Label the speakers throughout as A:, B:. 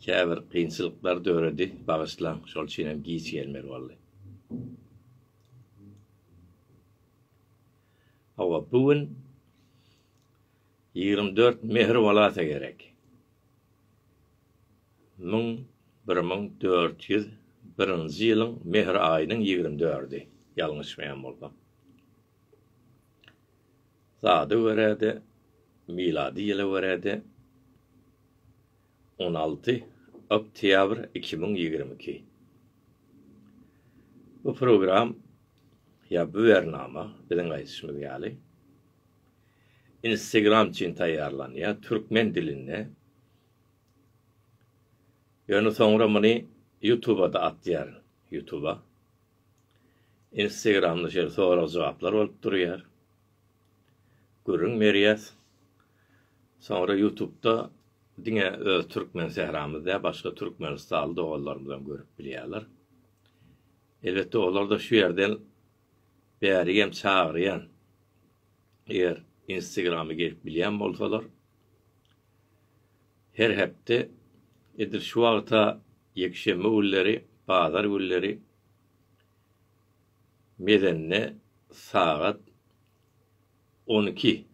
A: Käbir kynçylyklar döredi, bagyşlaň, şol üçin hem giç gelmeli boldy. Hawa, bu gün ýigrimi dört mähir bolasa gerek. Müň bir müň dört ýüz birinji ýylyň mähir aýynyň ýigrimi dördi, ýalňyşmaýan bolsam. Sada görä-de, milady ýyla görä-de, On alty oktýabr iki müň ýigrimi iki Bu program ýa bu bernama biziň aýdyşymyz ýaly Instagram üçin taýýarlanýar türkmen dilinde ýöne soňra muny ýutubada atýar ýutuba Instagramda şeýle sorag jogaplar bolup durýar gürrüň berýäs Soňra ýutubda diňe öz türkmen sähramyz däl başga türkmenistanly doganlarymyzam görüp bilýärler. Elbetde olarda şu ýerden bärigem çagyrýan eger instagramy gelip bilýän bolsalar her hepde edil şu wagta ýekşenbe günleri bazar günleri mezende sagat On iki,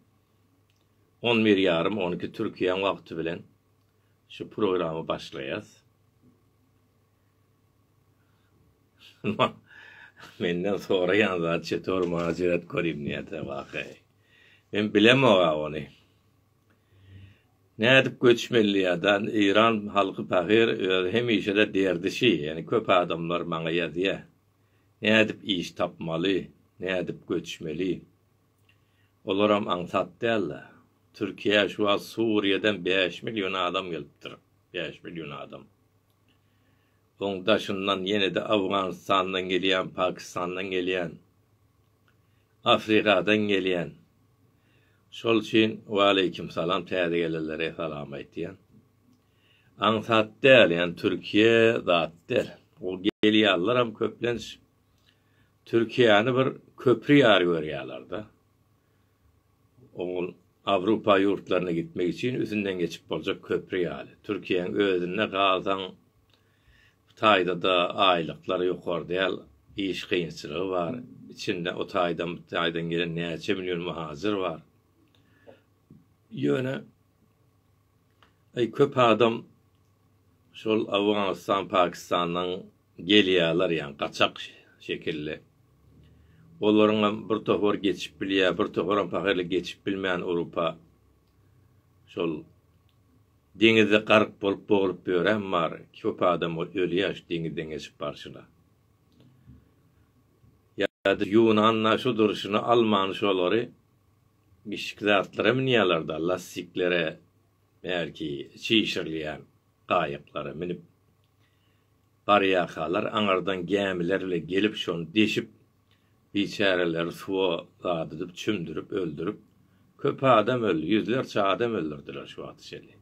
A: on bir ýarym, on iki Türkiýäň wagty bilen şu programy başlaýas. Menden soraýan zat çetor maňa jeret korim niyete vahe. Men bilemoga ony. Nädip göçmeli ýadan Iran halky pahyr öz hemişede derdi şi ýani köp adamlar maňa ýazýa. Nädip iş tapmaly, nädip göçmeli? Olaram aňsat däl-de. Türkiýä şu wagt Suriýadan bäş million adam gelipdir. Bäş million adam. Oň daşyndan ýene-de Owganystandan gelýän, Pakistandan gelýän, Afrikadan gelýän. Şol üçin Waleýkim salam täze gelenlere salam aýtýan. aňsat däl, ýagny Türkiýe zat däl. Ol gelýärleram köplenç Türkiýäni bir köpri ýaly görýärler-de. Ol Awrupa ýurtlaryna gitmek üçin üstünden geçip boljak köpri ýaly. Türkiýäň özünde galsaň, bu taýda-da aýlyklar ýokary däl, iş kynçylygy bar. Içinde o taýdan, bu taýdan gelen näçe million muhajyr bar. Ýöne Aý köp adam şol Awganystan Pakistandan gelýäler ýaňy gaçak şekilli. Olaryňam bir topar geçip bilýä bir toparam pahyryly geçip bilmän Urupa şol deňizde garyk bolup boglup ýören bar köp adam ölýä şu deňizden geçip barşyna. Ýa-da Ýunanda şu durşuna Alman şolary Bişik zatlara münýärler-de, lastiklere, belki, çişirilýän gaýyklara münüp, barýarkalar, aňyrdan gämiler bile gelip, şony deşip, biçäreleri suwa dadydyp, çümdürip, öldürip, köp adam öldi, ýüzlerçe adam öldürdiler şu wagta çenli.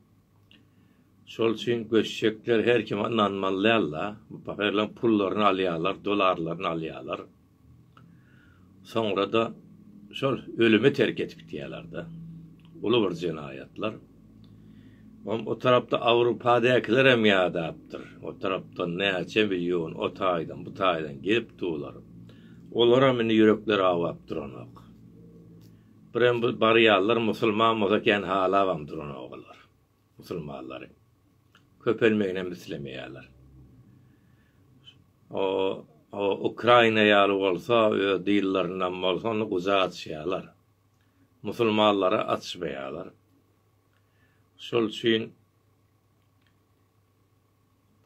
A: Şol üçin göçjekler her kime ynanmaly däl-de, bu pahyrylaryň pullaryny alýarlar, dollarlaryny alýarlar. Soňra-da şol ölümi terk edip gidýärler-de. Uly bir jenaýatlar. Oňa o tarapda Awrupadäkilerem ýadapdyr. O tarapdan näçe million o taýdan, bu taýdan gelip durlar. Olaram indi ýürekleri awap duranok. Birem bu barýanlar musulman bolsa kän halabam duranok olar. musulmanlaryň köpelmeginem islemeýärler. O, o Ukraina ýaly bolsa, öz dillerindem bolsa, ony guja açýarlar. Musulmanlara açmaýarlar. Şol üçin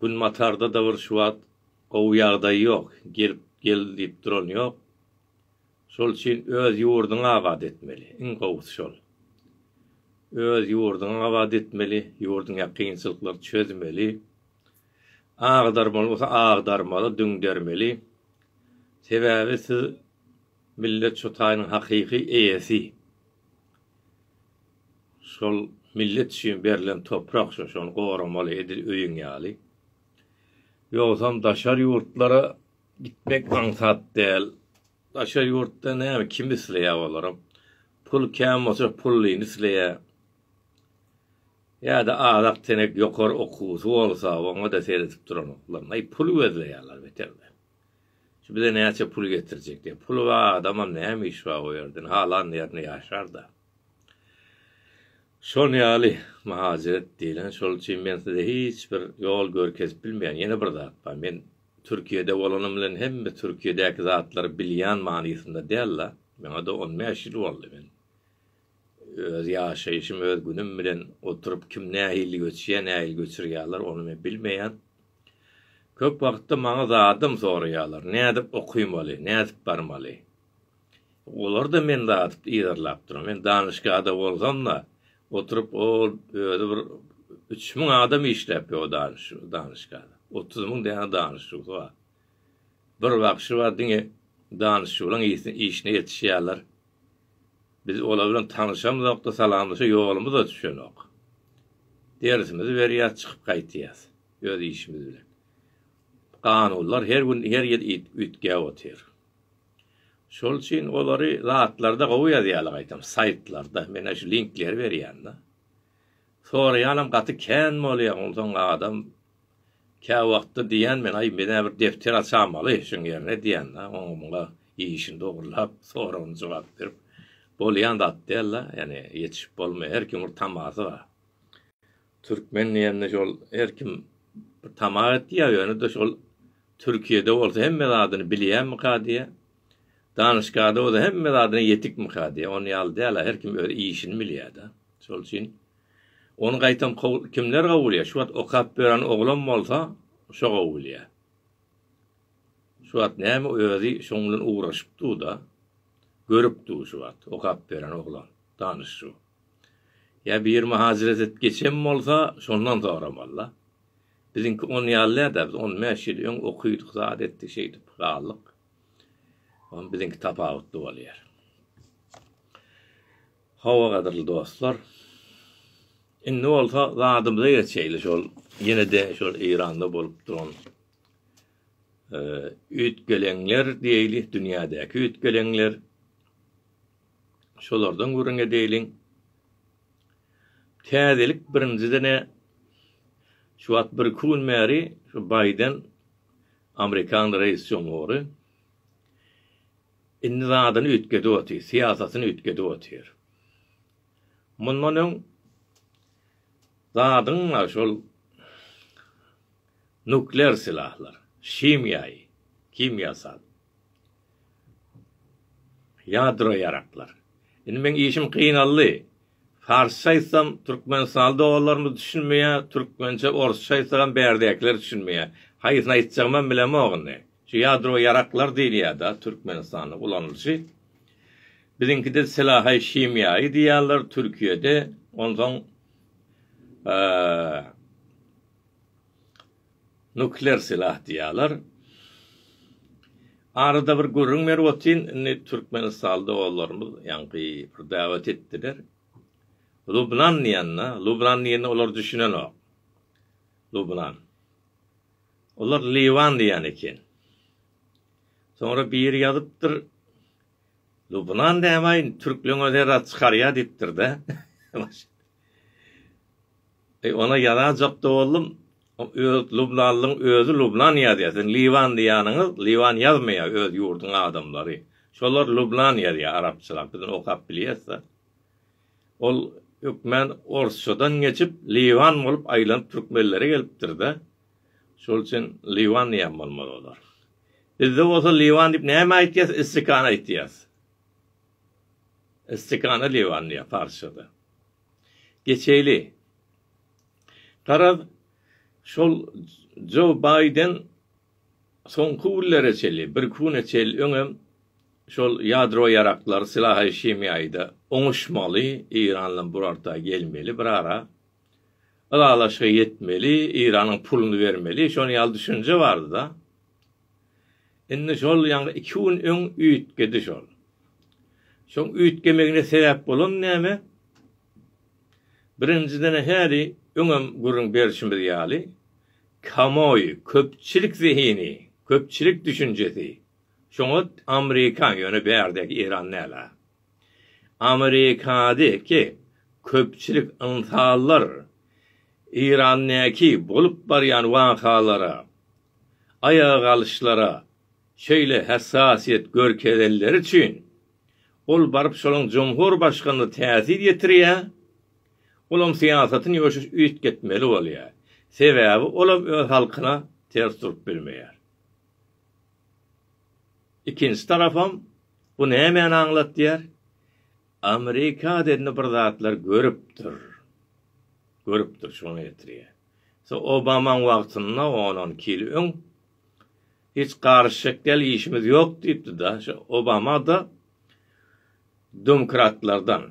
A: Günbatarda-da bir şu wagt gowy ýagdaý ýok. Gelip, gel diýip duran ýok. Şol üçin öz ýurduňy abat etmeli, iň gowusy şol. Öz ýurduňy abat etmeli, ýurduňa kynçylyklary çözmeli. Agdarmaly bolsa agdarmaly, düňdermeli. Sebäbi siz millet şu taýynyň hakyky eýesi. Şol millet üçin berlen toprak şu, şony goramaly edil öýüň ýaly. Ýogsam daşary ýurtlara Gitmek aňsat däl. Daşary ýurtda näme kim isleýär olaram. Pul kän bolsa pullyny isleýär. Ýa-da azak tenek ýokary okuwsy bolsa oňa-da seredip duranoklar. Aý pul gözleýärler beterde. Şu bize näçe pul getirjek diýip. Puly bar adamam näme işi bar o ýerde. Halan ýerinde ýaşar-da. Şol ýaly myhajeret diýlen. Şol üçin men size hiç bir ýol görkezip bilmeýän. Ýene bir zat bar. Men Türkiýede bolanym bilen hemme Türkiýedäki zatlary bilýän manysynda däl-de. Maňa-da on bäş ýyl boldy. Men öz ýaşaýşym, öz günüm bilen oturyp kim nähili göçýär, nähili göçürýärler, ony men bilmeýän. Köp wagtda maňa zadam soraýarlar, nädip okamaly, nädip barmaly? Olar-da meni datyp yzarlapdyr. Men danyşgada bolsam-da, oturyp ol özi bir üç müň adam işläpdir o danyşgada. Otuz müň däne danyşuwsy bar. Bir bagşy bar, diňe danyşuwlaryň işine ýetişýärler. Biz olar bilen tanyşamyzok-da, salamlaşa ýolumyz-da düşenok. Dersimizi berýäs, çykyp gaýtýas öz işimiz bilen. Kanunlar her gün, her ýyl üýtgäp otyr. Şol üçin olary zatlarda gowy ýazýarlar gaýtam saýtlarda men şu linkleri berýän da. Soraýanam gaty kän bolýar onsoň adam kä wagtda diýýän men aý menä bir depder açamaly şuň ýerine diýýän da oňa muňa işini dogrulap soragyny jogap berip bolýan zat däl da ýani ýetişip bolmaýar her kimiň bir tamasy bar. Türkmen diýende şol her kim bir tama etýär, ýöne-de şol Türkiýede bolsa hemme zadyny bilýärmika diýýär. Danyşgada bolsa hemme zadyna ýetikmika diýýär. Ony ýaly däl-ä, her kim öz işini bilýär-de. Şol üçin ony gaýtam kimler gowy bilýär? Şu wagt okap ýören oglan bolsa, şo gowy bilýär. Şu wagt näme özi şoň bilen ugraşyp dur-da, görüp dur şu wagt okap ýören oglan, danyş şu. Ýa biri myhajyrat edip geçen bolsa, şondan soramaly-da. Biziňki on ýaly däl-de, biz on bäş ýyl öň okydyk, zat etdik, şeýdip galdyk. Onuň biziňki tapawutly bolýar. Hawa, gadyrly dostlar. Indi bolsa zadymyza geçeýli, şol ýene-de şol Eýranda bolup duran üýtgeleňler diýeýli, dünýädäki üýtgeleňler. Şolardan gürrüň edeliň. Täzelik birinjiden-ä şu wagt bir-iki gün bäri şu Baýden amerikan reis jumhury indi zadyny üýtgedip otyr, syýasatyny üýtgedip otyr. Mundan öň zadyň şol nuklear silahlar, himiýaýy, kimýasal Ýadro ýaraklar. Indi meň işim gynaldy. Farsça aýtsam türkmenistanly doganlarymyz düşünmeýär, türkmençe, orsça aýtsagam bärdäkiler düşünmeýär. Haýsyny aýtjagymam bilemok indi. Şu ýadro ýaraklar diýilýärda türkmenistanda ulanylyşy. Biziňkide silahaý şimýaýy diýýärler türkiýede. Onsoň Nukler silah diýýäler. Arada bir gürrüň berip otyryn, indi Türkmenistanda doganlarymyz ýaňky bir dawet etdiler. Lubnan diýende, Lubnan diýende olar düşünenok. Lubnan. Olar Liwan diýen eken. Soňra biri ýazypdyr, Lubnan däbaý, türkleňe zerrat çykarýa diýipdir-de. Eý, ony ýazajak-da boldum. Öz lubnanlyň özi Lubnan ýazýar. Siziň Liwan diýýäniňiz, Liwan ýazmaýar öz ýurduň adamlary. Şolar Lubnan ýazýar arapçalap, biz ony okap bilýäs-de. Ol hökmän orsçadan geçip, Liwan bolup aýlanyp türkmenlere gelipdir-de. Şol üçin Liwan diýen bolmaly olar. Bizde bolsa Liwan diýip näme aýtýas, istikana aýtýas. Istikana Liwan diýýär parsçada. geçeýli. Garaz, şol Jo Baýden soňky günlere çenli, birki güne çenli öňem şol ýadro ýaraklary, sylahy şemiýaýda oňuşmaly, Eýran bilen bir orta gelmeli, bir ara ylalaşyga ýetmeli, Eýranyň puluny bermeli, şonuň ýaly düşünje bardy-da. Indi şol ýaňy iki gün öň üýtgedi şol. Şoň üýtgemegine sebäp bolan näme? Birinjiden-ä häli öňem gürrüň berşimiz ýaly, kamoý, köpçülik zehini, köpçülik düşünjesi, şoňat Amrikan, ýöne bärdäki Eran däl-ä. Amerikadaky köpçülik ynsanlar Eýrandaky bolup barýan wakalara, aýaga galyşlara şeýle hassasiýet görkezenleri üçin, ol baryp şolaň jumhur başganyna täsir ýetirýär, olam syýasatyny ýoşuş üýtgetmeli bolýar, sebäbi olam öz halkyna ters durup bilmeýär. Ikinji tarapam bu nämäni aňlatýar? Amerikada indi bir zatlar görüpdir. Görüpdir şuňa getirýär. So Obamaň wagtynda on on iki ýyl öň hiç garyşjak däl işimiz ýok diýipdi-da. Şo Obamada domkratlardan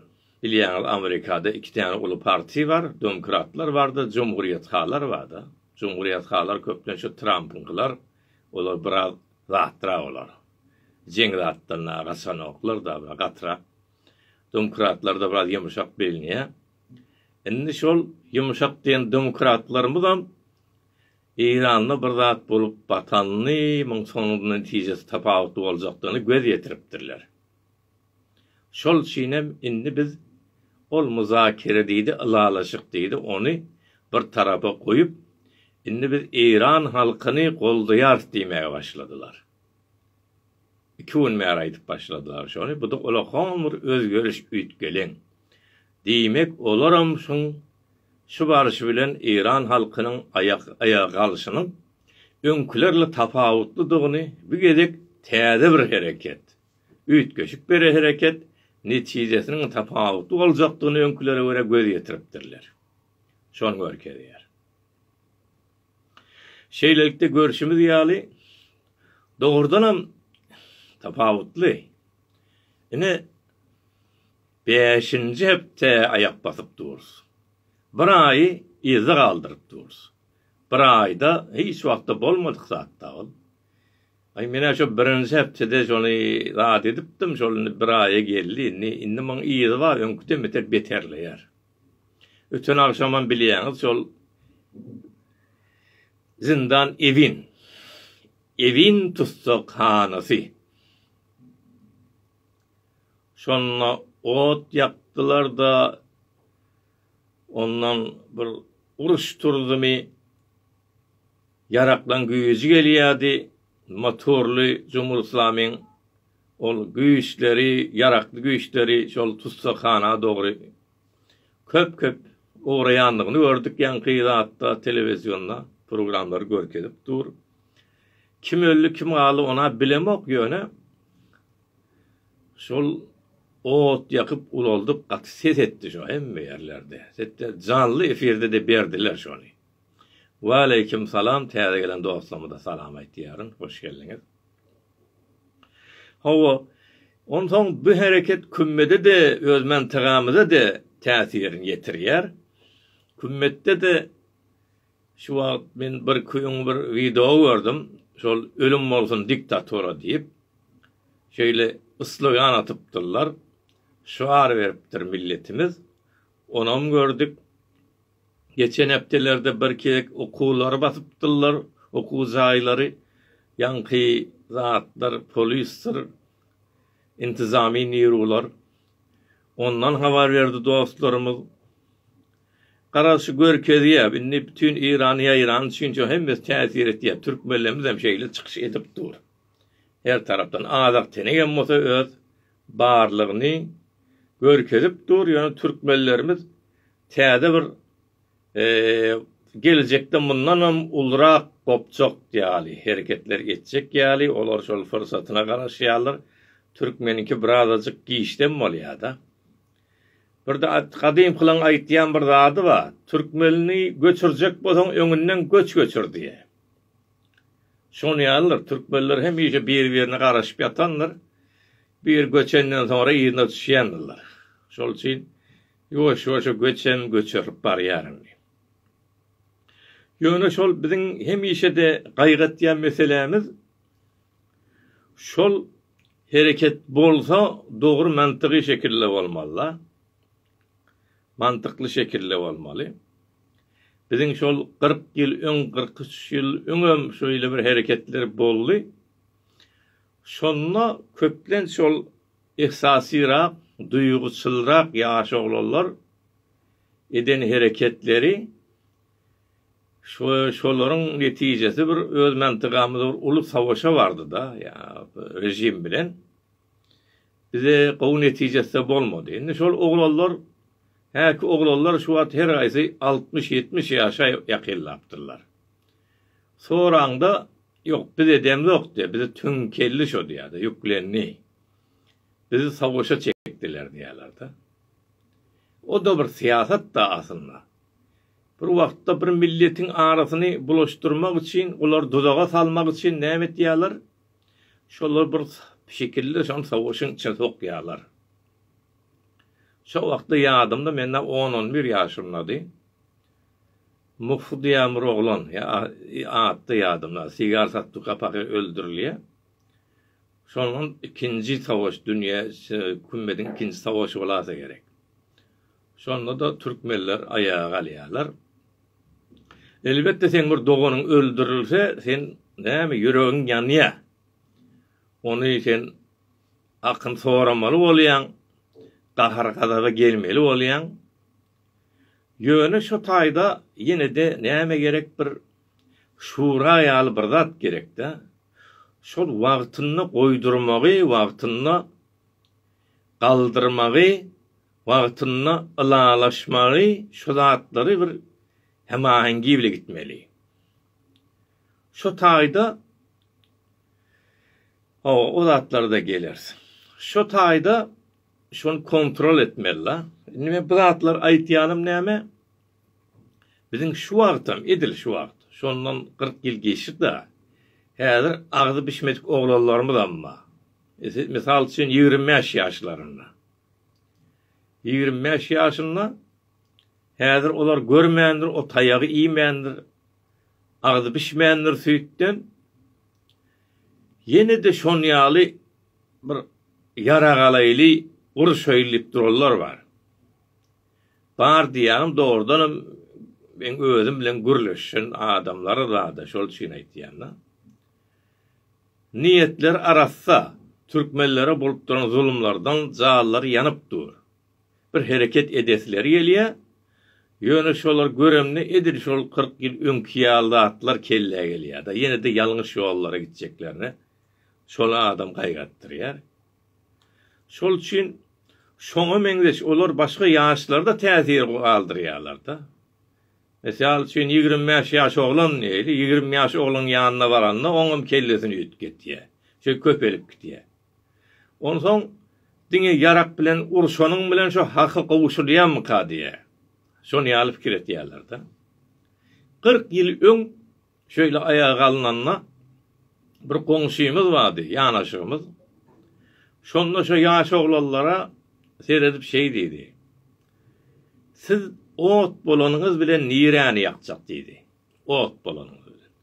A: bilýäňiz Amerikada iki täne uly parti bar. Domkratlar barda, jumhurýethalar barda. Jumhurýethalar köplenç şu Trampyňkylar. Olar biraz zatdyra olar. Jeň zatlaryna gaçanoklar-da, biraz gatyrak. Domkratlarda biraz ýumşak bilnýä. Indi şol ýumşak diýen domkratlarymyzam Eýranda bir zat bolup batanyny, muň soňunda netijesi tapawutly boljakdygyny göz ýetiripdirler. Şol üçinem indi biz ol muzakere diýdi, ylalaşyk diýdi, ony bir tarapa goýup, indi biz eýran halkyny goldaýarys diýmäge başladylar. Iki gün bäri aýdyp başladylar şony, bu-da ola hon bir özgeriş üýtgeleň. Diýmek, olaram şuň şu barşy bilen eýran halkynyň aýak aýaga galşynyň öňkülerle tapawutlydygyny bu gezek täze bir hereket, Üýtgeşik bir hereket netijesiniň tapawutly boljakdygyny öňkülere görä göz ýetiripdirler. Şony görkezýär. Şeýlelikde, görşümiz ýaly, dogrudanam tapawutly. Ine, bäşinji hepde aýak basyp durus. Bir aýy yzda galdyryp durus. Bir aýda hiç wagtda bolmadyk zat-da ol. Aý menä şo birinji hepdede şony zat edipdim şol indi bir aýa geldi indi indi muň yzy bar öňküden beter beterleýär. Öten agşamam bilýäňiz şol Zindan Ewin Ewin tussaghanasy şonda ot ýakdylarda ondan bir uruş turdymy Ýaraklaň güýji gelýärdi, motorly jumgulyslamyň ol güýçleri, ýarakly güýçleri şol tussaghana dogry köp-köp ugraýandygyny gördük, ýaňky zatda telewizionda programlar görkezip dur. Kim öldi, kim galdy, ony-a bilemok, ýöne şol ot ýakyp ulaldyk, gaty ses etdi şo hemme ýerlerde. Hetde janly efirde-de berdiler şony. Waleýkim salam täze gelen dostlarymyza salam aýtýaryn hoş geldiňiz. Hawa onsoň bu hereket kümmede-de öz mantygymyza-da täsirini ýetirýär. Kümmetde-de şu wagt men bir küýüň bir wideo gördüm şol ölüm bolsun diktatora diýip şeýle slogan atypdyrlar şygar beripdir milletimiz onam gördük Geçen hepdelerde bir gezek okuwlary basypdyrlar, okuw jaýlary, ýaňky zatlar, polisdir, intizamy niruwlar. Ondan habar berdi dostlarymyz. Garaşy görkezýär, indi bütin Eýran ýaýran üçin hemmesi täsir etýär. Türk möllemizem şeýle çykyş edip dur. Her tarapdan azak tenegem bolsa öz barlygyny görkezip dur, ýöne türkmenlerimiz Täze bir geljekde mundanam ulurak gopjak ýaly hereketler etjek ýaly, olar şol pursatyna garaşýarlar. Türkmeniňki birazajyk giçden bolýar-da. Birde gadymkylaň aýtýan bir zady bar, Türkmenini göçürjek bolsaň öňünden göç göçür diýe. Şonuň ýalydyr, türkmenler hemişe bir-birine garaşyp ýatandyr. Bir göçenden soňra yzyna düşýändirler. Şol üçin Ýuwaş-ýuwaş göçem göçerlip barýar indi. Ýöne şol biziň hemişe-de gaýgatýan meselämiz şol hereket bolsa dogry mantygy şekilde bolmaly-da. Mantykly şekilde bolmaly. Biziň şol kyrk ýyl öň, kyrk üç ýyl öňem şeýle bir hereketler boldy. Şonda köplenç şol Yhsasyrak, duýguçylrak ýaş oglanlar eden hereketleri şolaryň netijesi bir öz mantygymyzda bir uly savaşa bardyda ýa režim bilen bize gowy netijesde bolmady. Indi şol oglanlar häki oglanlar şu wagt her gaýsy altmyş ýetmiş ýaşa ýakynlapdyrlar. Soraňda ýok biz edemzok diýýär bize töňkeldi şo diýýärdi ýüklendi. Bizi soguşa çekdiler diýýärler-de. O-da bir syýasat-da aslynda. Bir wagtda bir milletiň arasyny bulaşdyrmak üçin, olary duzaga salmak üçin näme etýärler? Şolary bir şekilde şol soguşyň içine sokýarlar. Şo wagtda ýadymda, mende on-on bir ýaşymdady. Muhy diýýän bir oglan, ýa, ady-da ýadymda, sigar satdy, kapahý öldürilýär. Şondan ikinji savaş dünýä kümmediň ikinji savaşy bolasa gerek. Şonda-da türkmenler aýaga galýarlar. Elbetde seň bir doganyň öldürilse sen näme ýüregiň ýanýa. Ony sen akyn soramaly bolýaň, gahar-gazaba gelmeli bolýaň. Ýöne şo taýda ýene-de näme gerek bir şura ýaly bir zat gerekdä. Şol wagtynda goýdurmagy, wagtynda galdyrmagy, wagtynda ylalaşmagy şo zatlary bir hemahengi bile gitmeli. Şo taýda hawa o zatlara-da geleris. Şo taýda Şony kontrol etmeli la. Indi men bu zatlar aýtýanym näme? Biziň şu wagtam, edil şu wagt, şondan kyrk ýyl geçdi-da, häzir agzy bişmedik oglanlarymyzam bar. Mysal üçin ýigrimi bäş ýaşlarynda. Ýigrimi bäş ýaşynda häzir olar görmändir, o taýagy iýmändir, Agzy bişmändir süýtden. Ýene-de şon ýaly bir ýarag alaýly, guruşaýly diýip duranlar bar. Bar diýýäňem dogrudanam meň özüm bilen gürleşen adamlar zada şol üçin aýtýan-da. Niýetleri arassa, türkmenlere bolup duran zulumlardan jallary ýanyp dur. bir hereket edesileri gelýär, ýöne şolary göremde edil şol kyrk ýyl öňki ýaly zatlar kellä gelýär-de, ýene-de ýalňyş ýollara gitjeklerine şony adam gaýgyrtdyrýar. Şol üçin şoňa meňzeş olar başga ýaşlarda täsir galdyrýarlar-da. Mysal üçin ýigrimi bäş ýaş oglan ýigrimi ýaş ogluň ýanyna baranda oňam kellesini üýtgetýär, çünki köpelip gidýär. Onsoň diňe ýarak bilen urşanyň bilen şo haky gowuşylýarmyka diýä. Şony ýaly pikir etýärler-de. Kyrk ýyl öň şeýle aýaga alnanda bir goňşymyz bardy, ýanaşygymyz. Şonda şo ýaş oglanlara seredip şeý diýdi, Siz ot bolanyňyz bilen niräni ýakjak diýdi. Ot bolanyňyz bilen.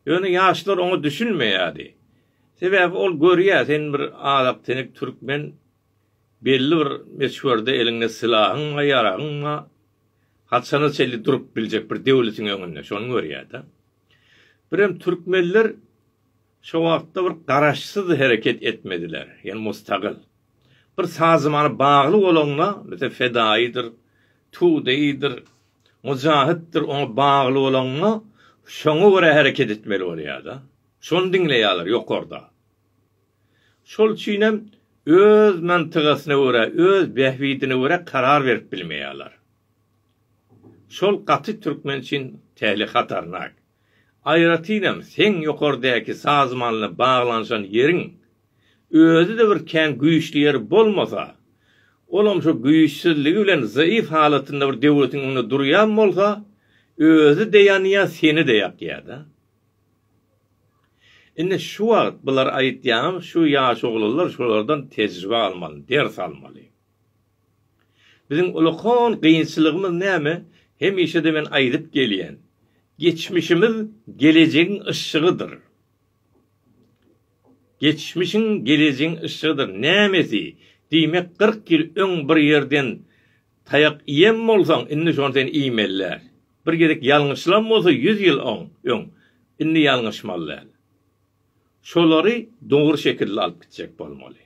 A: Ýöne ýaşlar oňa düşünmeýärdi. Sebäbi ol görýär, sen bir azaktenek türkmen, belli bir möçberde eliňde sylahyň bar, ýaragyň bar. Haçana çenli durup biljek bir döwletiň öňünde, şony görýär-de. Birem türkmenler Şo wagtda bir garaşsyz hereket etmediler, ýagny mustagyl. Bir sazymana bagly bolanda, meselem, fedaýydyr, tudeýdir, mujahytdyr, oňa bagly bolanda, şoňa görä hereket etmeli bolýar-da. Şony diňleýärler ýokarda. Şol üçin hem öz mantygasyna görä, öz bähbidine görä karar berip bilmeýärler. Şol gaty türkmen üçin tehli hatarnak. Aýratynam seň ýokardäki sazmanyna baglanyşan ýeriň özi-de bir kän güýçli ýeri bolmasa, olam şu güýçsizligi bilen zaýyf halatynda bir döwletiň öňünde durýan bolsa, özi-de ýanýa, seni-de ýakýa-da. Indi şu wagt bulary aýtýaňam, şu ýaş oglanlar şulardan tejribe almaly, ders almaly. Biziň ulkan kynçylygymyz näme? Hemişe-de men aýdyp gelýän, geçmişimiz gelejegiň yşşygydyr. Geçmişiň gelejegiň yşşygydyr. Nämesi? Diýmek, kyrk ýyl öň bir ýerden taýak iýen bolsaň, indi şony sen iýmeli däl. Bir gezek ýalňyşylan bolsa ýüz ýyl öň, indi ýalňyşmaly däl. Şolary dogry şekilde alyp gitjek bolmaly.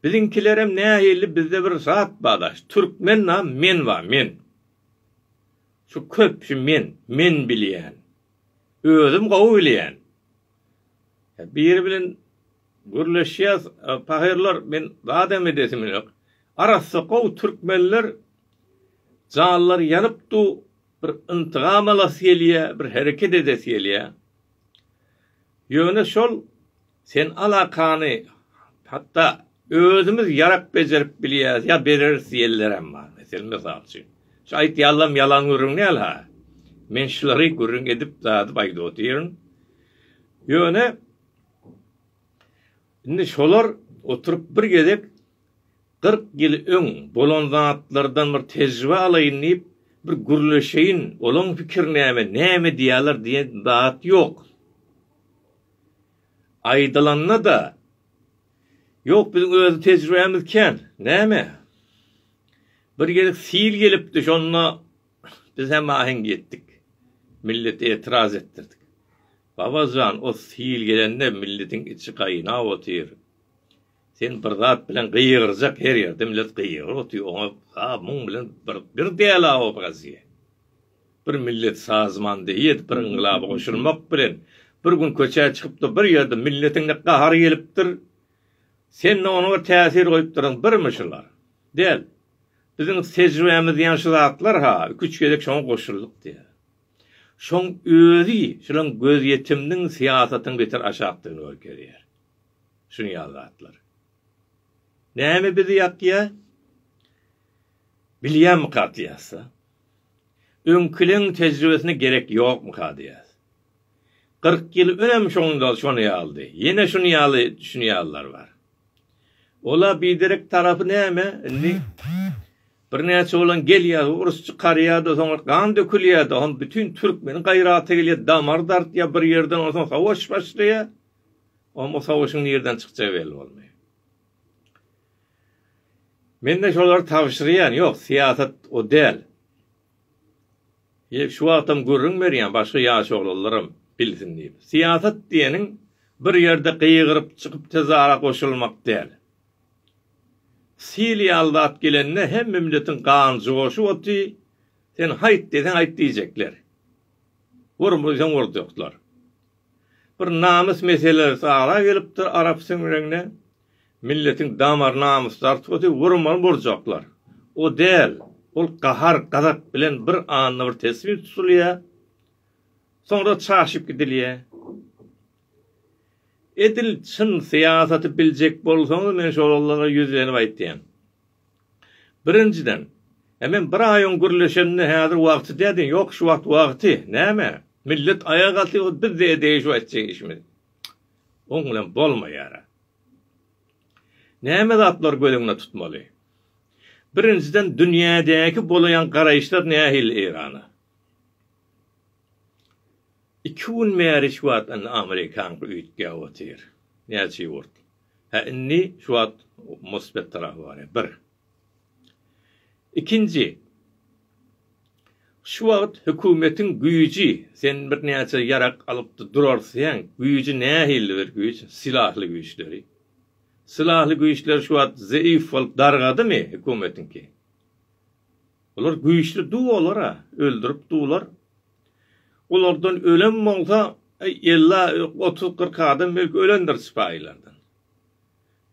A: Biziňkilerem nähili bizde bir zat ba daş türkmen na men ba men. Şu köp şu men men bilýän. Özüm gowy bilýän. Biri bilen gürleşýäs pahyrlar men zadam edesim ýok. Arassa gowy türkmenler janlary ýanyp du bir yntygamalasygelýä bir hereket edesigelýä. Ýöne şol Sen alakany hatda özümiz ýarak bejerip bilýäs ýa bereris diýenlerem bar. Meselem, mysal üçin, şu aýtýanlaram ýalan gürrüň däl-hä. Men şulary gürrüň edip, dadyp aýdyp otyryn. Ýöne indi şolar oturyp bir gezek kyrk ýyl öň bolan zatlardan bir tejribe alaýyn diýip, bir gürleşeýin, olaň pikiri näme, näme diýýärler diýen zat ýok. Aýdylanda-da, Ýok, biziň öz tejribämiz kän. Näme? Bir gezek sil gelipdi, şonda biz hem aheň etdik. Milleti etiraz etdirdik. Baba jan, o sil gelende milletiň içi gaýnap otyr. Sen bir zat bilen gygyrjak, her ýerde millet gygyryp otyr, oňa ha muň bilen bir däl-a obraziýa. Bir millet sazman deýýed bir yňgylaba goşulmak bilen bir gün köçä çykypdyr bir ýerde milletiňde gahar gelipdir sende ony bir täsir goýupdyryň birmi şular däl biziň tejribämiz diýen şu zatlar ha iki üç gezek şoňa goşuldyk diýýär şoň özi şulaň gözýetimniň syýasatyň beter aşakdygyny görkezýär şun ýaly zatlar näme bizi ýakýar bilýämmi kartýasda. Öňküleň tejribesine gerek ýokmyka diýýäs. Kyrk ýyl önem şonda şony ýalydy. Ýene şuny ýaly düşünýärler bar. Ola biderek tarapy näme, indi birnäçe oglan gelýär, urus çykarýar-da, soňra gan dökülýär-de, hom bütin türkmeniň gaýraty gelýär, damary dartýar bir ýerden, onsoň sowaş başlaýar. Hom o sowaşyň nirden çykjagy belli bolmaýar. Mende şolary tabşyrýan ýok syýasat o däl. Şu wagtam gürrüň berýän başga ýaş oglanlaram bilsin diýip. Syýasat diýeniň bir ýerde gygyryp çykyp tezara goşulmak däl. Sil ýaly zat gelende hemme milletiň gany joşup oty sen haýt deseň aýt diýjekler. Wur diýseň wurjaklar. Bir namys meselesi ara gelipdir arap siňregne milletiň damar namysdar tuty wurmaly boljaklar o däl ol gahar gazap bilen bir anda bir tesbih tutulýa soňra çaşyp gidilýä edil çyn syýasaty biljek bolsaňyz men şolara ýüzlenip aýtýan. Birinjiden, Emem bir aýyň gürleşenine häzir wagty dä diýen, ýok şu wagt wagty, näme? Millet aýaga galsa ýogsy bizde edeýin şu etjek işimizi. Oň bilen bolmaýara. Näme zatlary göz öňüne tutmaly? Birinjiden dünýädäki bolaýan garaýyşlar nähili Eýrana? Iki gün bäri şu wagt indi Amerikanka üýtgäp otyr. Näçe ýurt. Hä indi şu wagt mosfet tarapy barýar bir. Ikinji şu wagt hökümetiň güýji sen bir näçe ýarak alypdy durarsyň güýji nähilli bir güýç silahly güýçleri. Silahly güýçler şu wagt zeif bolup dargadymy hökümetiňki. Olar güýçli duw olar-a, öldürip duwlar. Olardan ölem bolsa, ella, otuz-kyrk adam belki ölendir sypaýylardan.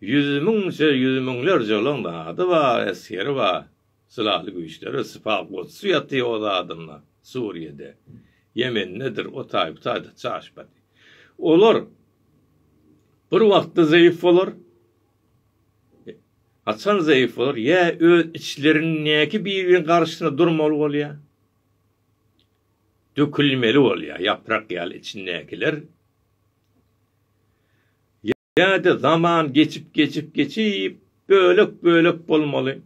A: Ýüz müňçe, ýüz müňlerçe olaň zady bar, esgeri bar. Sylaly güýçleri, sypa goçsy ýatyr o zadynda, Suriýede, Ýemendedir, o taý, bu taýda çaşbaty. Olar bir wagtda zeýif bolar. Haçan zaif bolar? Ýa öz içlerindäki bir-biriň garşysyna durmaly bolýar. Dökülmeli bolýar, ýaprak ýaly içindäkiler. Ýa-da zaman geçip geçip geçip bölek-bölek bolmaly.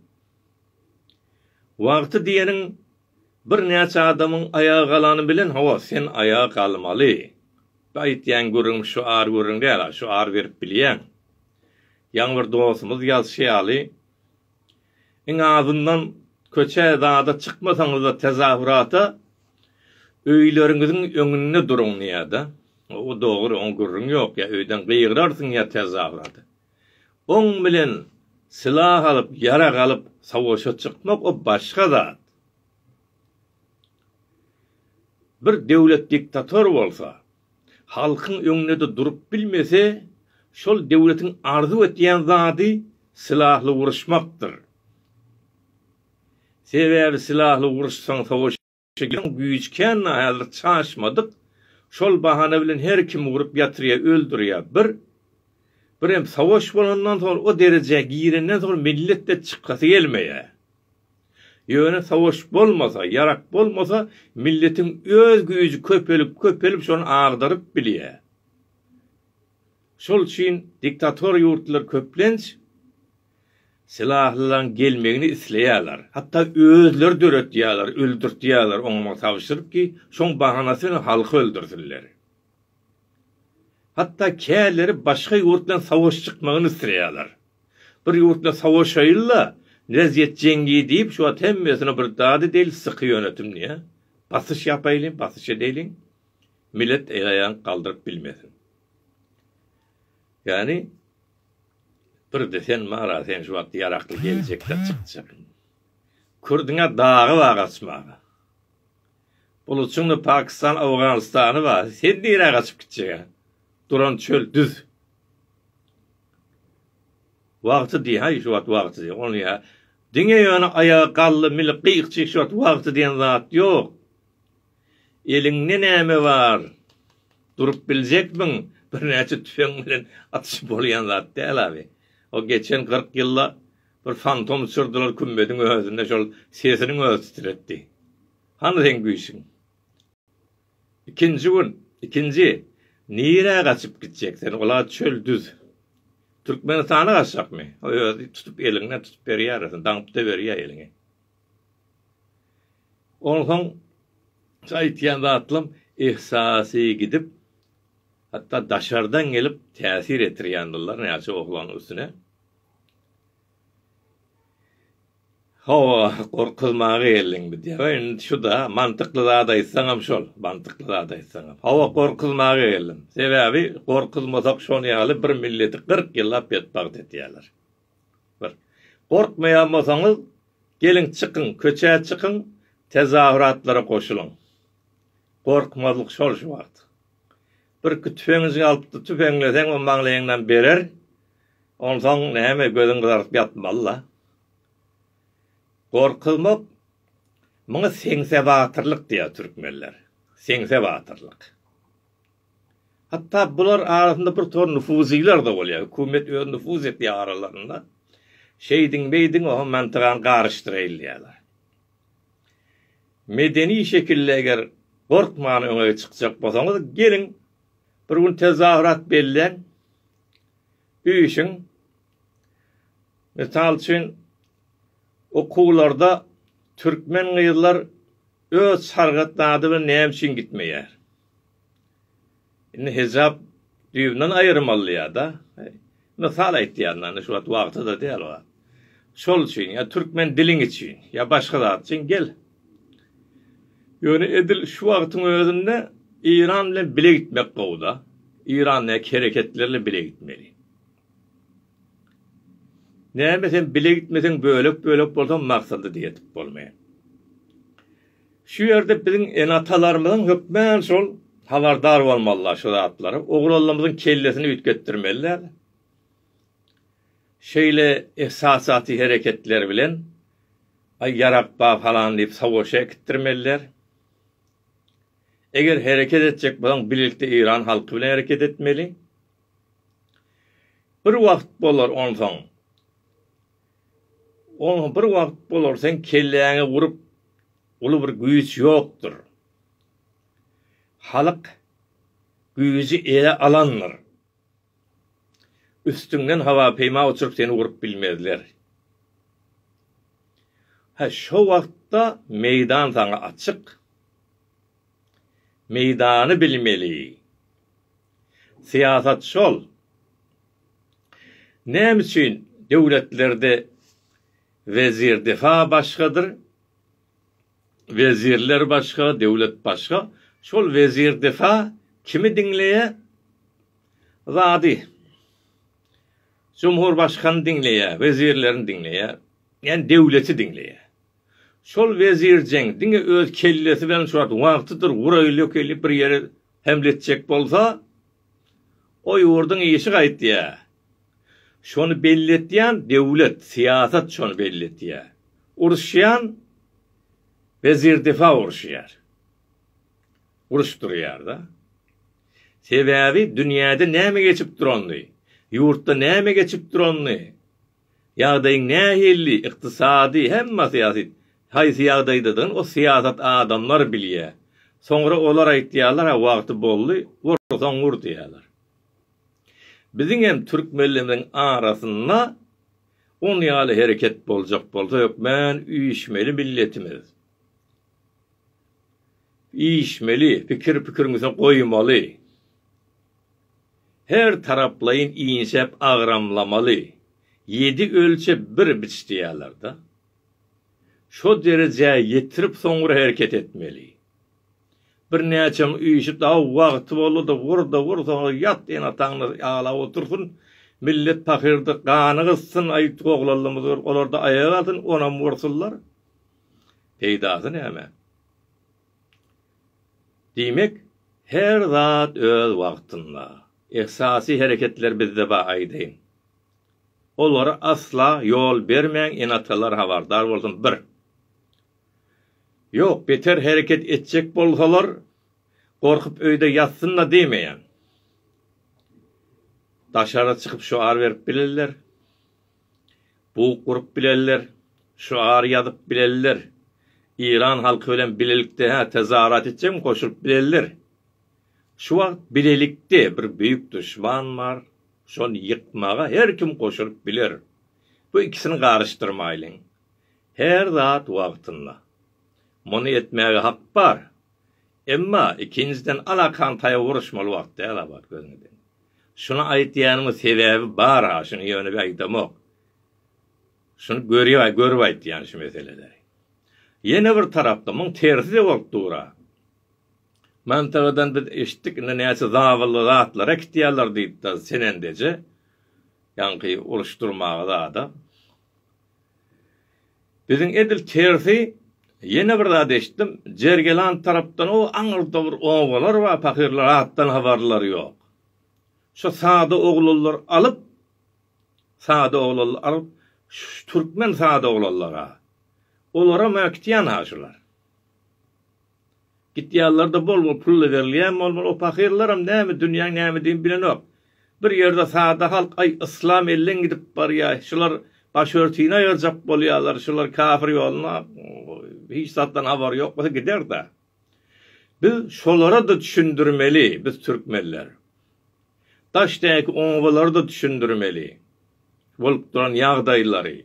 A: Wagty diýeniň Birnäçe adamyň aýaga galany bilen hawa sen aýaga galmaly. Bu aýtýan gürrüňim şu ar gürrüň däl-a, şu ar berip bilýäň. Ýaňy bir dostumyz ýazşy ýaly, iň azyndan köçä zada çykmasaňyzda tezahurata öýleriňiziň öňünde duruň diýýä-de. O dogry, oň gürrüň ýok, ýa öýden gygyrarsyň ýa tezahurata. Oň bilen sylah alyp, ýarag alyp savaşa çykmak o başga zat. Bir döwlet diktator bolsa, halkyň öňünde-de durup bilmese, şol döwletiň arzuw etýän zady sylahly uruşmakdyr. Sebäbi sylahly uruşsaň savaş. Çeken güýji kän häzir çaşmadyk şol bahana bilen her kimi urup ýatyrýa öldürýä bir birem sawaş bolandan soň o derejä girenden soň milletde çykasy gelmeýä ýöne sawaş bolmasa ýarak bolmasa milletiň öz güýji köpelip köpelip şony agdaryp bilýä şol üçin diktator ýurtlar köplenç Sylahlalaň gelmegini isleýärler. Hatda özleri döretýärler, öldürtýärler oňamagy tabşyryp ki, şoň bahanasy bilen halky öldürsinler. Hatda käleri başga ýurt bilen savaş çykmagyny isleýärler. Bir ýurt bilen savaşaýyl-la, wezýet jeňňi diýip, şu wagt hemmesine bir dady deýl syky ýönetim diýýär. Basyş ýapaýlyň, basyş edäýliň. Millet el-aýagyny galdyryp bilmesin. Ýani birde sen mara sen şu wagt ýarakly geljekde çykjak. Kürdüňe dagy bar gaçmaga. Buluçyňda Pakistan Owganystany bar sen nirä gaçyp gitjegä. Duran çöl düz. Wagty diý haý şu wagt wagty diý ony ýa. Diňe ýöne aýaga gally mili gyýkjy şu wagt wagty diýen zat ýok. Eliňde näme bar? Durup biljekmiň? Birnäçe tüpeň bilen atyşyp bolýan zat däl abi. O geçen kyrk ýylda bir fantom uçurdylar kümmediň özünde şol sesiniň özi titretdi. Hany seň güýçüň? Ikinji gün, ikinji, nirä gaçyp gitjek sen, ol-a çöl düz. Türkmenistana gaçjakmy? O özi tutup eliňden tutup berýär, daňyp-da berýär eliňi. Onsoň şu aýtýan zatlam yhsasy gidip, hatda daşardan gelip täsir etirýändirler näçe oglanyň üstüne. Hawa, gorkuzmaga geldiň bi diýýär. Ýa indi şu-da, mantykly zat aýtsaňam şol, mantykly zat aýtsaňam. Hawa, gorkuzmaga geldim. Sebäbi gorkuzmasak şonuň ýaly bir milleti kyrk ýyllap betbagt etýärler. Bir. Gorkmaýan bolsaňyz, geliň çykyň, köçä çykyň, tezahüratlara goşulyň. Gorkmazlyk şol şu wagt. Birki tüfeňjiňi alyp-da tüfeňleseň o maňlaýyňdan berer, onsoň näme gözüň gyzaryp ýatmaly-la. Gorkuzmak, muňa seňse batyrlyk diýýär türkmenler. Seňse batyrlyk. Hatda bular arasynda bir tor nufuzylar-da bolýar, hökümet özi nufuz edýär aralarynda. Şeýdiň-beýdiň oho mantygany garyşdyraýylýarlar. Medeni şekilde eger gorkman öňe çykjak bolsaňyz, geliň, bir gün tezahürat belläň, üýşüň. Mysal üçin, okuwlarda türkmen gyzlar öz sargyt zady bilen näme üçin gitmeýär? Indi hejap düýbünden aýyrmalyýa-da. Mysal aýtýan da, indi şu wagt wagty-da däl ol. Şol üçin, ýa türkmen diliň üçin, ýa başga zat üçin gel. Ýöne edil şu wagtyň özünde Eýran bilen bile gitmek gowy-da. Eýrandäki hereketler bilen bile gitmeli. Näme sen bile gitmeseň bölek bölek bolsaň maksada da ýetip bolmaýar. Şu ýerde biziň ene atalarymyzyň hökmän şol habardar bolmalylar şu zatlara. Oglanlarymyzyň kellesini üýtgetdirmeliler. Şeýle ehsasaty hereketler bilen aý ýarak ba falan diýip savaşa äkitdirmeliler. Eger hereket etjek bolsaň bilelikde Eýran halky bilen hereket etmeli. Bir wagt bolar onsoň. Onsoň bir wagt bolar seň kelläňi urup uly bir güýç ýokdur. Halk güýji ele alandyr. Üstüňden hawa peýma uçuryp seni urup bilmezler. Hä şo wagtda meýdan saňa açyk. Meýdany bilmeli. Syýasat şol. Näme üçin döwletlerde wezir defa başgadyr, wezirler başga, döwlet başga. Şol wezir defa kimi diňleýär? Zady. Jumhurbaşgany diňleýär, wezirlerini diňleýär. Ýani döwleti diňleýär. Şol wezirjeň diňe öz kellesi bilen şu wagt wagtydyr wuraýylýok elýär, bir ýere Äwletjek bolsa, o ýurduň işi gaýtýar. Şony belletýän döwlet, syýasat şony belletýär. Uruşýan wezirdifa uruşýar. Uruş durýar-da. Sebäbi dünýäde näme geçip duranyny, ýurtda näme geçip duranyny Ýagdaýyň nähili, ykdysady, hemme syýasy, haýsy ýagdaýdadygyny o syýasat adamlar bilýär. Soňra olar aýtýarlar-a wagty boldy, wursaň wur diýýärler. Biziň hem türkmenlerimiziň arasynda on ýaly hereket boljak bolsa hökmän üýşmeli milletimiz. Üýşmeli, pikir pikiriň üstüne goýmaly. Her taraplaýyn inşep agramlamaly, ýedi ölçe bir biç diýýärler-de. Şo derejä ýetirip soňra hereket etmeli. Birnäçeň işi daw wagty boldy-da, wur-da wur, soňra ýat ene-ataňda aglap otursyn, millet pahyrdy, gany gysyn, aý oglallymyzdyr, olar-da aýak alsyn, onam wursunlar. Peýdasy näme? Diýmek, her zat öz wagtynda. Esasy hereketler bizde bar aýdaýyn. Olara asla ýol bermäň enatalar habardar bolsun bir. Ýok beter hereket etjek bolsalar gorkup öýde ýatsynda diýmeýän. Daşara çykyp şoar berip bilerler. Bug gurup bilenler, şygar ýazyp bilenler, Eýran halky bilen bilelikde hä tezarat etjekmi goşulyp bilenler. Şu wagt bilelikde bir beýik duşman bar, şony ýykmaga her kim goşulyp biler. Bu ikisini garyşdyrmaýlyň. Her zat wagtynda. Muny etmäge hak bar. Emma, ikinjiden alakaň taýa uruşmaly wagt däl abat gözüňeden. Şuny aýtýanyma sebäbi bar-a, şuny ýöne bir aýdamok. Şuny görýä, görüp aýtýan şu meseleleri. Ýene bir tarapda muň tersi-de bolup dur-a. Mantagadan biz eşitdik, indi näçe zabylly zatlar äkitýärler diýip-de senendeje ýaňky uruşdyrmaga zada. Biziň edil tersi Ýene bir zat eşitdim, Jergeland tarapdan o aňyrda bir obalar bar, pahyrlar atdan habarlary ýok. Şo sada oglanlar alyp, sada oglanlar alyp, şu türkmen sada oglanlar-a. Olaram-a gitýän-a şular. Gitýänlerde bol-bol pulla berilýän bolmaly, o pahyrlaram näme dünýäň nämedigini bilenok. Bir ýerde sada halk, Aý, yslam elleň gidip barýaý, şular başörtüni aýyrjak bolýalar, şular kafir ýoluna hiç zatdan habary ýok bolsa gider-dä. Biz şolara-da düşündirmeli, biz türkmenler. Daşdaky obalara-da düşündirmeli bolup duran ýagdaýlary.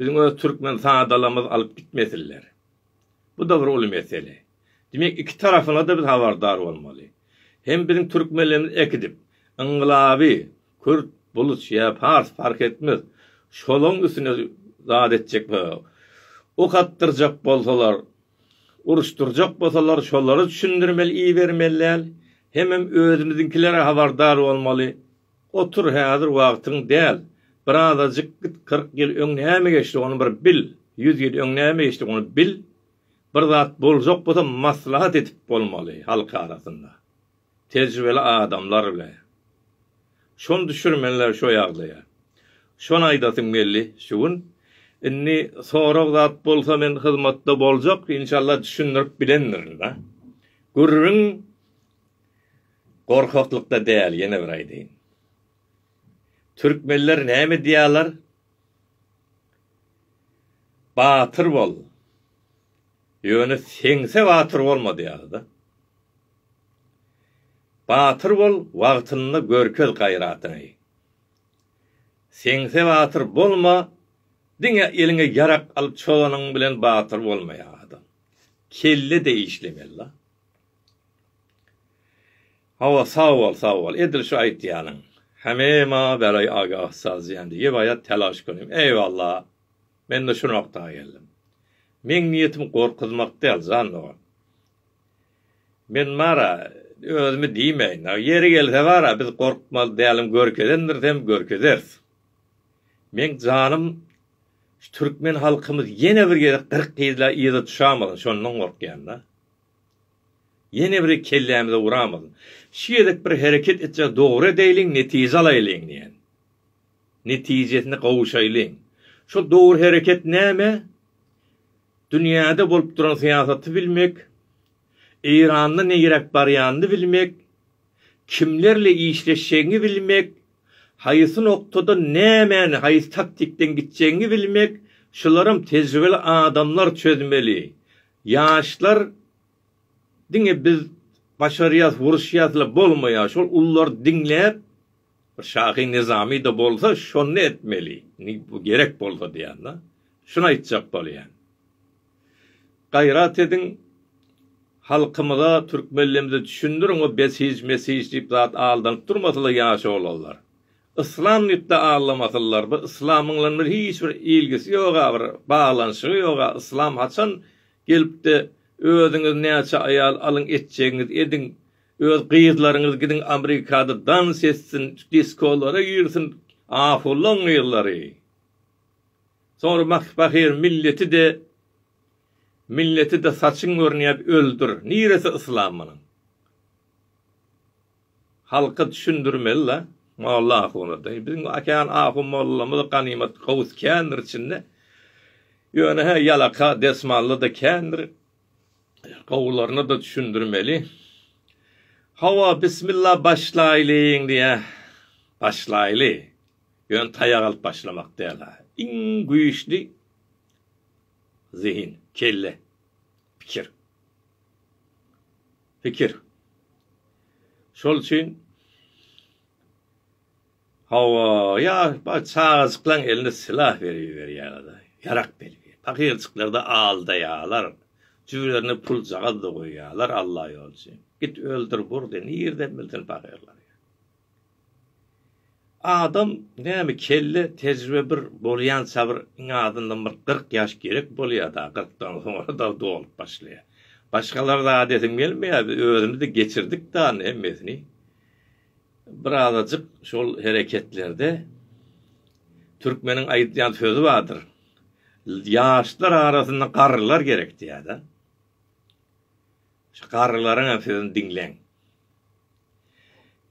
A: Biziň öz türkmen sadalarymyz alyp gitmesinler. Bu-da bir uly mesele. Diýmek, iki tarapyna-da biz habardar bolmaly. Hem biziň türkmenlerimiz äkidip, yngylaby, kürt, bulus ýa pars, parh etmez, şolaň üstüne zat etjek we ok atdyrjak bolsalar, uruşdyrjak bolsalar, şolara düşündirmeli, ibermeli däl. Hemem özümiziňkilere habardar bolmaly. Otur häzir wagtyň däl. Birazajyk git kyrk ýyl öň näme geçdi ony bir bil, ýüz ýyl öň näme geçdi ony bil. Bir zat boljak bolsa maslahat edip bolmaly halk arasynda. Tejribeli adamlar bilen. Şony düşürmeliler şo ýagdaýa. Şony aýdasym geldi şu gün. Indi sorag zat bolsa men hyzmatda boljak inşallah düşündirip bilendirin-dä. Gürrüň. Gorkaklykda däl ýene bir aýdaýyn. Türkmenler näme diýýärler? Batyr bol. Ýöne seňse batyr bolma diýýärler-de. Batyr bol, wagtynda görkez gaýratyňy. Seňse batyr bolma, diňe eliňe ýarak alyp çozanyň bilen batyr bolmaýar adam. Kelle-de işlemeli-la. Hawa sag bol sag bol edil şu aýtýanyň heme maňa beräý aga ussat diýen diýip aýat telaş gönim eýwalla mende şu nokta geldim meň niýetim gorkuzmak däl jan dogan men bara özümi diýmeýin ýeri gelse bara biz gorkmaly dälim görkezendiris hem görkezeris meň janym şu türkmen halkymyz ýene bir gezek gyrk ýyla yza düşamasyn şondan gorkýan da. Ýene bir kellämize uramyz. Şu gezek bir hereket etjek dogry edeýliň, netije alaýlyň diýen. Netijesine gowuşaýlyň. Şol dogry hereket näme? Dünýäde bolup duran syýasaty bilmek, Eýranda neýräk barýanyny bilmek, kimlerle işleşjegiňi bilmek, haýsy noktada nämäni haýsy taktikden gitjegiňi bilmek, şularam tejribeli adamlar çözmeli. Ýaşlar diňe biz başarýas uruşýasla bolmaýar şol ullary diňläp bir şahy nyzamyda bolsa şony etmeli gerek bolsa diýýän da şuny aýtjak bolýan gaýrat ediň halkymyza türkmenlemze düşündiriň o besij mesij diýip zat aldanyp durmasyla ýaş oglanlar Yslam diýipde aglamasynlar bu yslamyň bilen bir hiç bir ilgisi ýoga bir baglanyşygy ýoga yslam haçan gelipdi özüňiz näçe aýal alyň etjegiňiz ediň öz gyzlaryňyz gidiň amerikada dans etsin diskolara girsin ahullaň gyzlary soňra bak pahyr milleti de milleti de saçyň görünýä öldür niresi yslam munuň. Halka düşündirmeli-la, molla ahuna deý. Biziň kän ahun mollamyz ganymat gowus kändir içinde. Ýöne-hä ýalaka desmally-da kändir. Gowularyna-da düşündirmeli. Hawa, bismilla başlaýlyň diýýä. Başlaýly. Ýöne taýak alyp başlamak däl-hä. Iň güýçli zehin, kelle, pikir. Pikir. Şol üçin Hawa, ýa bar çagajyklaň eline sylah berip iberýärler-de, ýarak belki. Pakyrjyklar-da aldaýarlar. Jübülerine puljagaz-da goýýarlar, Alla ýolçy. Git öldür, bur diýen. Nirden bilsin pakyrlar ýa. Adam näme kelle tejribe bir bolýança bir iň azyndan bir kyrk ýaş gerek bolýada kyrkdan soňra da dolup başlaýa. Başgalary zat edim gelmeýä biz özümiz de geçirdik dany hemmesini. Bir azajyk şol hereketlerde türkmeniň aýdýan sözi bardyr. Ýaşlar arasynda garrylar gerek diýada. Şu garrylaryň hem sözüni diňleň.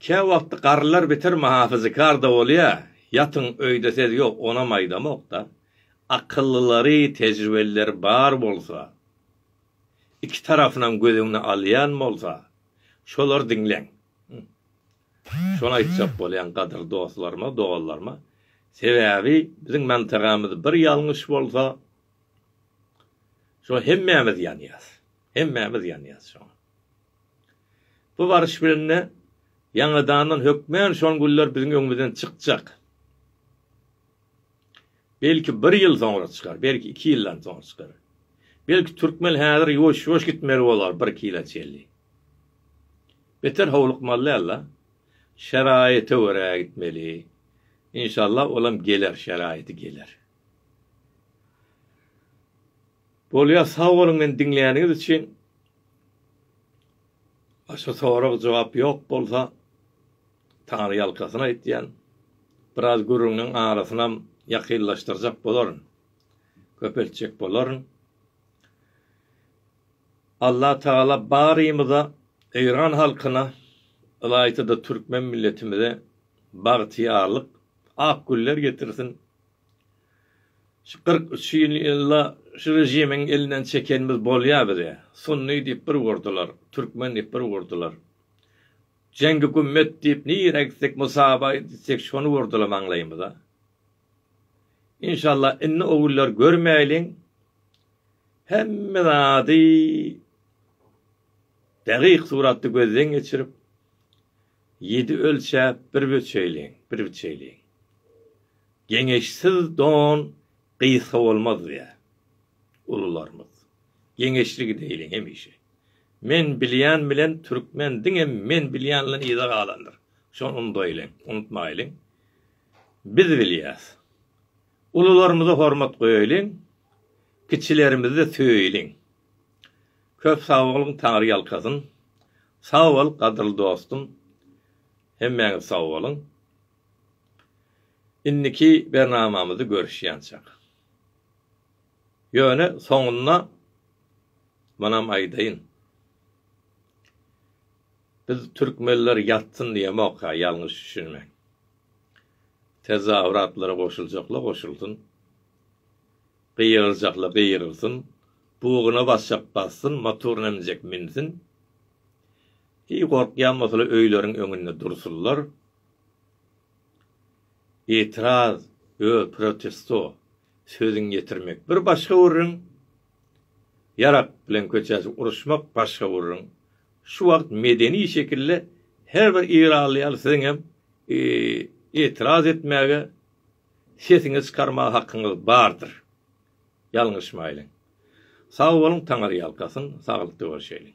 A: Kä wagty garrylar beter mahafyzykar-da bolýa, ýatyň öýde sez ýok onam aýdamokda, akyllylary, tejribelileri bar bolsa, iki tarapynam göz öňüne alýan bolsa, şolary diňleň. Şony aýtjak bolýan gadyrly dostlaryma, doganlaryma, sebäbi biziň mantagamyz bir ýalňyş bolsa, şo hemmämiz ýanýas, hemmämiz ýanýas şoňa. Bu baryş bilen-de ýaňadandan hökmän şol günler biziň öňümizden çykjak. Belki bir ýyl soňra çykar, belki iki ýyldan soň çykar. Belki türkmen häzir ýuwaş-ýuwaş gitmeli bolar bir iki ýyla çenli. Beter howlukmaly däl-de. Şeraýata görä gitmeli. Inşallah olam geler, şeraýaty geler. Bolýar sag boluň meni diňläniňiz üçin. Başga sorag jogap ýok bolsa Tary ýalkasyny aýtýan. Biraz gürrüňiň arasynam ýakynlaşdyrjak bolaryn. Köpeltjek bolaryn. Allah Tagala barymyza Eýran halkyna ylaýta-da türkmen milletimize bagtyýarlyk, ak günler getirsin. Şu kyrk üç ýyl ylla şu rejimiň elinden çekenimiz bolýa bize. Sunny diýip bir urdular, türkmen diýip bir urdular. Jengi gümmet diýip nirä gitsek Musaba gitsek şony urdular maňlaýymyza. Inşalla indi o günleri görmäýliň. Hemme zady degyk suratda gözden geçirip, ýedi ölçäp bir böçeýliň, bir biçeýliň. Geňeşsiz don gysga bolmaz diýýär ulularymyz. Geňeşli gideýliň hemişe. Men bilýän bilen türkmen diňe men bilýänlen yza galandyr. Şony undaýlyň, unutmaýlyň. Biz bilýäs. Ulularymyza hormat goýaýlyň, kiçilerimizi-de söýeýliň. Köp sag boluň, Taňry ýalkasyn. Sag bol, gadyrly dostum. Hemmäňiz sag boluň. Indiki bernamamyzy görüşýänçak. Ýöne soňunda munam aýdaýyn. Biz türkmenler ýatsyn diýemokka ýalňyş düşünmäň. Tezawuratlara goşuljakla goşulsyn. Gygyrjakla gygyrsyn. Buguna basjak bassyn, motoryna minjek minsin. Hiý gorkýan bolsalar öýleriň öňünde dursunlar. Itiraz yo protesto sözüň ýetirmek bir başga gürrüň, ýarak bilen köçäçik uruşmak başga gürrüň. Şu wagt medeni şekilde her bir ýerally ýaly siziň hem itiraz etmäge, sesiňizi çykarmaga hakyňyz bardyr. Ýalňyşmaýlyň. Sag boluň, Taňyrýalkasyn, saglykda görşeýliň.